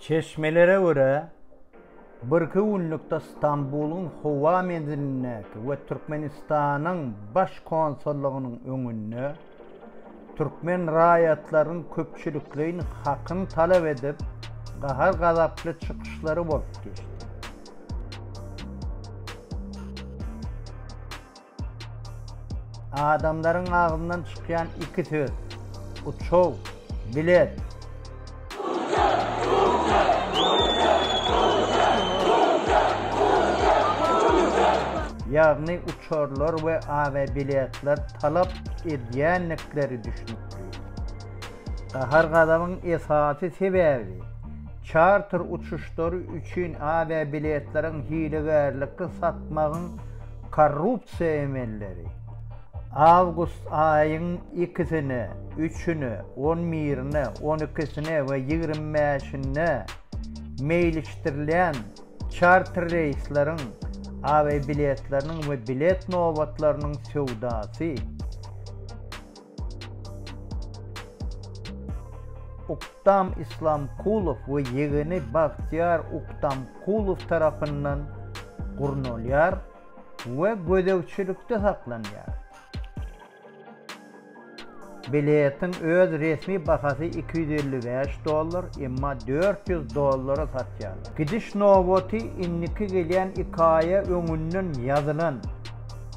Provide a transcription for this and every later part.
Çeşmelere görä, birki günlükde Stambulyň howa menzilindäki we Türkmenistanyň Baş konsullygynyň öňünde türkmen raýatlarynyň köpçülikleýin hakyny talap edip, gahar-gazaply çykyşlary bolup geçdi. Adamlaryň agzyndan çykýan iki söz, uçaw, bilet. Ýagny uçarlar we awiabiletler talap edýändikleri düşnükli. Gahar-gazabyň esasy sebäbi, çarter uçuşlary üçin awiabiletleriň hilegärlikli satmagyň Korrupsiýa emelleri awgust aýyň ikisine, üçüne, on birine, on ikisine we ýigrimi bäşinde meýilişdirilýän çarter reýsleriň awiabiletleriniň we bilet nobatlarynyň söwdasy, Uktam Islamkulow we ýegeni Bagtyýar Uktamkulow tarapyndan gurnalýar we gözegçilikde saklanýar. Biletiň öz resmi bahasy iki ýüz elli bäş dollar, emma dört ýüz dollara satýarlar. Gidiş nobaty indiki gelýän iki aýa öňünden ýazylan.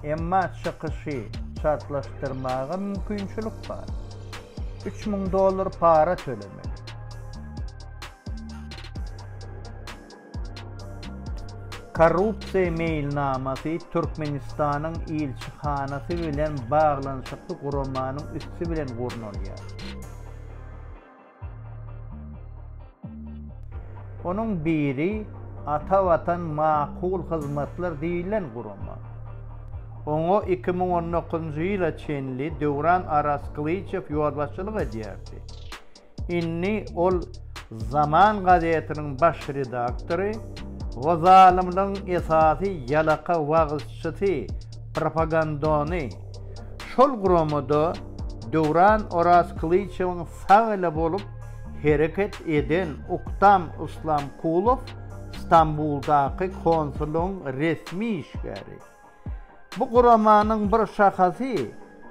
Emma çykyşy çaltlaşdyrmaga mümkinçilik bar. Üç müň dollar para tölemeli. Korrupsiýa meýilnamasy Türkmenistanyň ilçihanasy bilen baglanyşykly guramanyň üsti bilen gurnalýar. Onuň biri Ata Watan makul hyzmatlar diýlen gurama. Oňa iki müň on dokuzynjy ýyla çenli Döwran Arazkylyjow ýolbaşçylyk edýärdi. Indi ol Zaman gazetiniň baş redaktory we zalymlygyň esasy ýalaka wagyzçysy Propagandany şol guramada Döwran Orazkylyçewiň sag eli bolup hereket eden Uktam Islamkulow Stambuldaky konsullygyň resmi işgäri. Bu guramanyň bir şahasy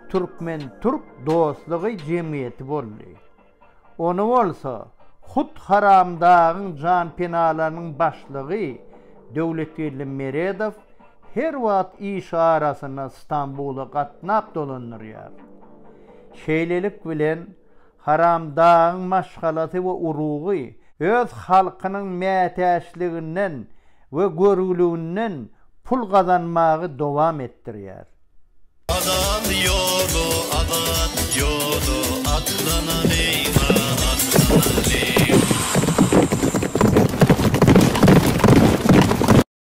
Türkmen-türk dostlugy jemgyýeti boldy. Ony bolsa hut Haramdagyň janpenalarynyň başlygy Döwletgeldi Meredow her wagt iş arasyna Stambula gatnap dolandyrýar. Şeýlelik bilen, Haramdagyň maşgalasy we urugy öz halkynyň mätäçliginden we görgüliginden pul gazanmagy dowam etdirýär. Azat ýoly, azat ýoly, Atlanalyň-a, atlanalyň!